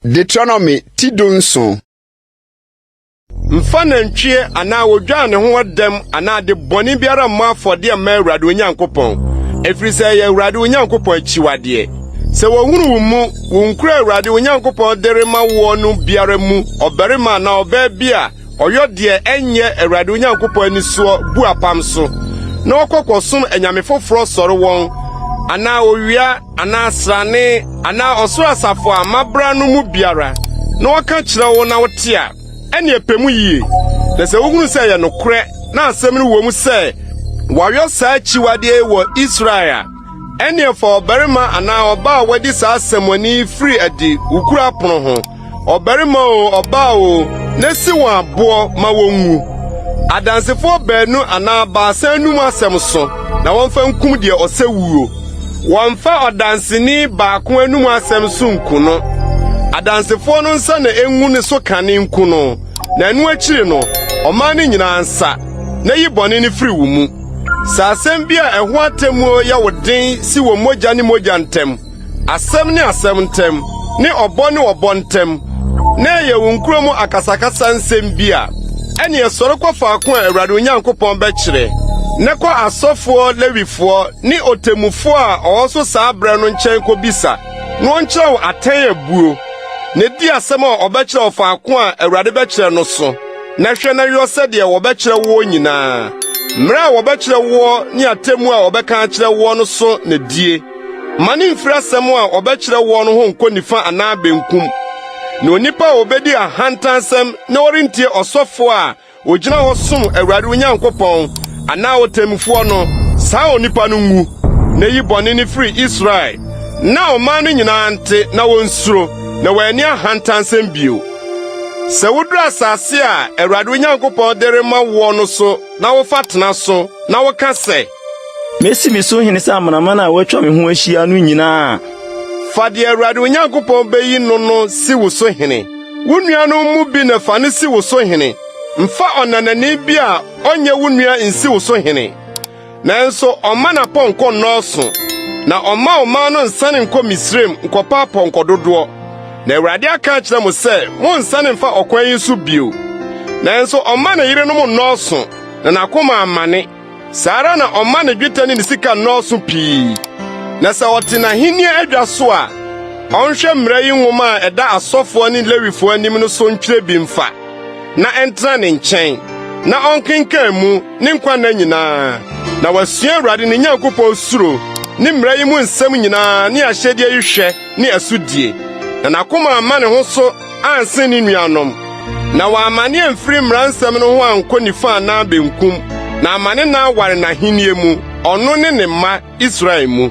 Deuteronomy ti du nson. Mfa nantwie anaa odwan ne ho ɔdɛm anaa de bɔne biara mmɔ afɔdeɛ mma Awurade Onyankopɔn, ɛfiri sɛ ɛyɛ Awurade Onyankopɔn akyiwadeɛ. Sɛ wɔhunu wo mu, wo nkura Awurade Onyankopɔn de rema woɔ no biara mu ɔbarima anaa ɔbaa bi a, Ɔyɔ deɛ ɛnyɛ Awurade Onyankopɔn ani soɔ, bu apam so, na ɔkɔ kɔsom anyame foforɔ sɔre wɔn, anaa owia, anaa srane, anaa ɔsoro asafo a mabra no mu biara, na ɔka kyerɛ wo na wote a, ɛneɛ pɛ mu yie. Na sɛ wohunu sɛ ɛyɛ nokorɛ, na asɛm no wɔ mu sɛ wɔayɔ saa akyiwadeɛ yi wɔ Israel a, Ɛnneɛ fa ɔbarima anaa ɔbaa a wadi saa asɛmmɔne yi firi adi wo kuro apono ho, ɔbarima o ɔbaa o, na si wɔn aboɔ ma wɔnwu. Adansefoɔ baanu anaa baasa anum asɛm so na wɔmfa nkum deɛ ɔsɛ wuo. Wɔmfa ɔdanseni baako anum asɛm so nku no. Adansefoɔ no nsa na engu ne so kane nku no, na ɛno akyiri no, ɔman no nyinaa nsa, na yi bɔne no firi wo mu. Sɛ asɛm bi a ɛho atemmuo yɛ wo den si wɔ mogya ne mogya ntam, asɛm ne asɛm ntam, ne ɔbɔ ne ɔbɔ ntam, na ɛyɛ wo nkuro mu akasakasa nsɛm bi a, ɛneɛ sɔre kɔ faako a Awurade wo Nyankopɔn bɛkyerɛ, na kɔ asɔfoɔ, Lewifoɔ, ne ɔtemmufoɔ a ɔwɔ so saa berɛ no nkyɛn kɔbisa, na ɔnkyerɛ wo atɛn abuo, na di asɛm a ɔbɛkyerɛ wo faako a Awurade bɛkyerɛ no so. na hwɛ na yɔ sɛdeɛ wɔbɛkyerɛ woɔ nyinaa. Mmerɛ a wɔbɛkyerɛ woɔ ne atemmu a wɔbɛka akyerɛ woɔ no so na die. Ma ne mfiri asɛm a wɔbɛkyerɛ woɔ no ho nkɔ nifa anaa benkum. Na onipa a ɔbɛdi ahantansɛm na ɔrentie ɔsɔfoɔ a ɔgyina hɔ som Awurade wo Nyankopɔn anaa ɔtemmufoɔ no, saa onipa no nwu, na yi bɔne no firi Israel, na ɔman no nyinaa nte na wɔnsuro, na wɔanni ahantansɛm bio. Sɛ woduru asase a Awurade wo Nyankopɔn de rema woɔ no so na wofa tena so na woka sɛ. Mesi me so hene sɛ amanaman a wɔatwa me ho ahyia no nyinaa a. Fa deɛ Awurade wo Nyankopɔn bɛyi no no si wo so hene. Wo nuanom mu bi na fa no si wo so hene. Mfa ɔnanani bi a ɔnyɛ wo nua nsi wo so hene. Nanso ɔmma n'apɔnkɔ nnɔɔso, na ɔmma ɔman no nsane nkɔ Misraim nkɔpa apɔnkɔ dodoɔ. Na Awurade aka akyerɛ mo sɛ monnsane mfa ɔkwan yi so bio. Nanso ɔmma ne yerenom nnɔɔso, na n'akoma ammane. Saa ara na ɔmma ne dwetɛ ne ne sika nnɔɔso pii. Na sɛ ɔte n'ahenni adwa so a, ɔnhwɛ mmara yi nwoma a ɛda asɔfoɔ ne Lewifoɔ anim no so ntwerɛ bi mfa. na ɛntena ne nkyɛn na ɔnkenkan mu ne nkwa nna nyinaa na wasua Awurade ne Nyankopɔn suro ne mmara yi mu nsɛm nyinaa ne ahyɛdeɛ yi hwɛ ne ɛsodie na n'akoma amma ne ho so ansen ne nuanom na wamma ne amfiri mmara nsɛm no ho ankɔ nifa anaa benkum na ama ne na aware n'ahennie mu ɔno ne ne mma Israel mu.